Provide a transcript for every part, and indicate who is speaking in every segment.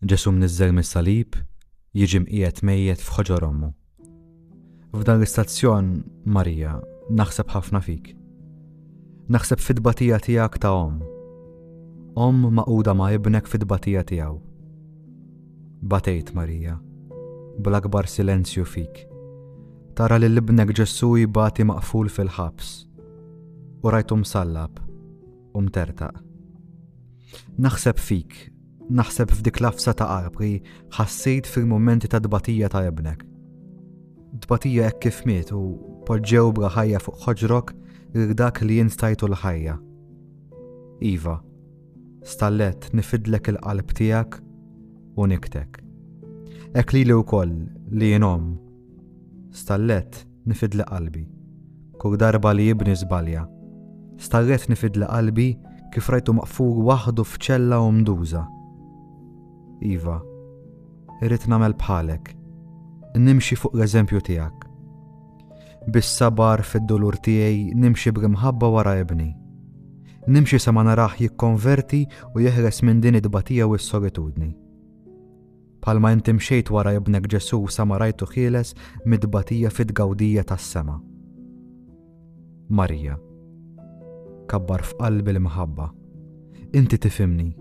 Speaker 1: Ġesù mniżżel mis-salib jiġi mqiegħed mejjet f'ħoġor ommu. F'dan l-istazzjon, Marija, naħseb ħafna fik. Naħseb fit-tbatija tiegħek ta' omm. Omm maquda ma' ibnek fit-tbatija tiegħu. Batejt Marija, bl-akbar silenzju fik. Tara li l-ibnek Ġesù jibati maqful fil-ħabs. U rajtu msallab. u mtertaq. Naħseb fik, naħseb f'dik lafsa ta' qalb li ħassejt fil-momenti ta' dbatija ta' ibnek. Dbatija hekk kif miet u poġġew bla ħajja fuq ħoġrok lil dak li jinstajtu l-ħajja. Iva, stallet nifidlek il-qalb tiegħek u niktek. Ek li li wkoll li jenom Stallet nifidli qalbi. Kull darba li ibni żbalja. Stallet nifidli qalbi kif rajtu maqful waħdu f'ċella umduża. Iva, irrid nagħmel bħalek. Nimxi fuq l-eżempju tiegħek. Bis-sabar fid-dolur tiegħi nimxi bl-imħabba wara ibni. Nimxi sa ma naraħ jikkonverti u jeħles minn din it tbatija u s-solitudni. Bħalma inti mxejt wara ibnek Ġesù sa ma rajtu ħieles mit-tbatija fit-tgawdija tas-sema. Marija. Kabbar f'qalbi l-imħabba. Inti tifimni,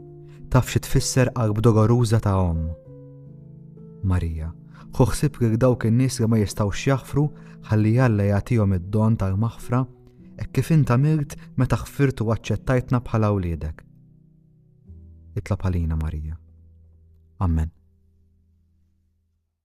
Speaker 1: taf xi tfisser qalb dogoruża ta' omm. Marija. Ħu ħsib lil dawk in-nies li ma jistgħux jaħfru ħalli Alla jagħtihom id-don tal-maħfra hekk kif int għamilt meta ħfirt u aċċettajtna bħala wliedek. Itlob għalina Marija. Ammen.